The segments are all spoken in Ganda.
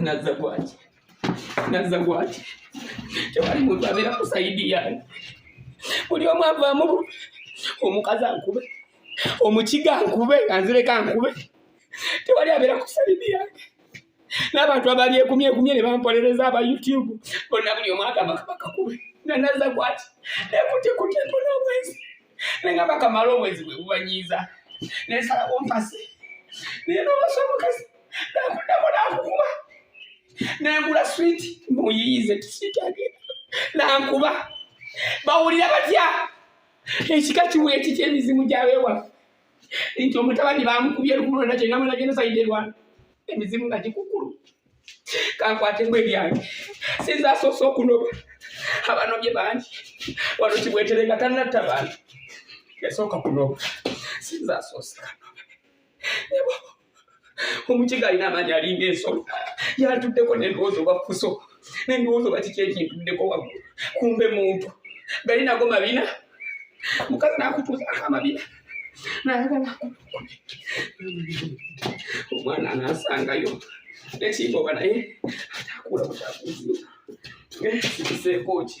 naza gwaki naza gwaki tewali muntu abeera ku sayidi yange buli omu avaamu omukazi ankube omukiga ankube anzireka ankube tewali abeera ku sayidi yange n'abantu abali ekumye ekumye ne bampolereza aba youtube bonna buli omu agamba kabaka kube nga nazza kwati nekutikuti mpona obwenzi nenga bakamala obwenzi bwe bubanyiiza nensala wompasi naye nobasa omukazi nakuddamu nakukuba nengula switi muyiyize tiswiti agenda nankuba bawulira batya ekika kiwula ekiki emizimu gyabewaffe nti omutabani bamukubye lukulu lwona kyena mwena genda sayide lwana emizimu nga gikukulu kankwatemu ebyange sinza asoose okunoba abanobye bangi wano kibwetere nga tanatta bantu yasooka kunoba sinza asoose kanobe omukiga alina amaanyi alinga ensolo yatuddeko nendowooza oba fuso nendowooza oba kiki ekintuddeko waggulu kumbe muntu gali nago mabina mukazi nakutuuzaako amabina nayagala omwana anasangayo nekimba oba naye atakuula butakuziika eh, kiseeko ki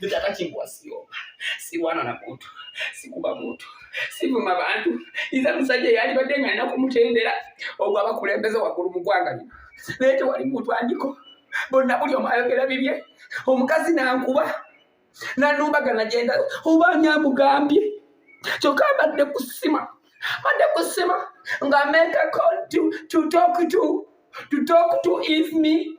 Nitaka chimbwa sio. Si wana na mutu. Si kuba mutu. Si vuma bantu. Iza msaje yali badenga na kumutendera. Ogwa bakulembeza wakuru mkwanga ni. Lete wali mutu andiko. Bona buli omayogera bibye. Omukazi na ankuba. Na nuba gana jenda. Uba nyamu gambi. Choka bade kusima. Bade kusima. Nga make a call to, to talk to. To talk to is me.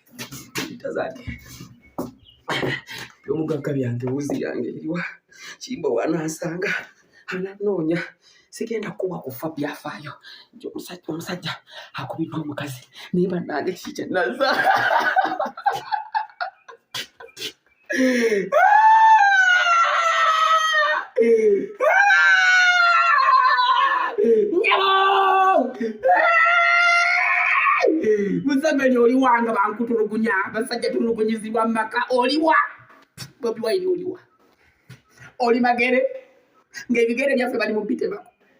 tazake byomugagga byange wuzi yange eriwa kimba wanansanga ananoonya sigenda kuwa kufa byafaayo nti omusajja omusajja akubidde omukazi naye banange kikyenaza museveni oliwa nga bankutulugunya basajja tulugunyizibwa mumaka oliwa bobi wayini oliwa oli magere ng'ebigere byaffe bali mu bitebako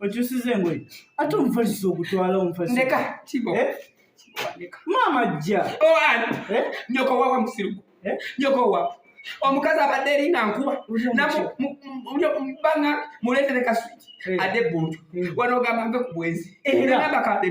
okyusiza engoye ate omufaliso ogutwala omufalismaama eh? jja oh, eh? nyoko wawa musirugu eh? nyoko wawa omukazi abadde eringa nkuba banga muleetere kaswiti ade buntu wano ogamba mpe ku bwenzi era bakadde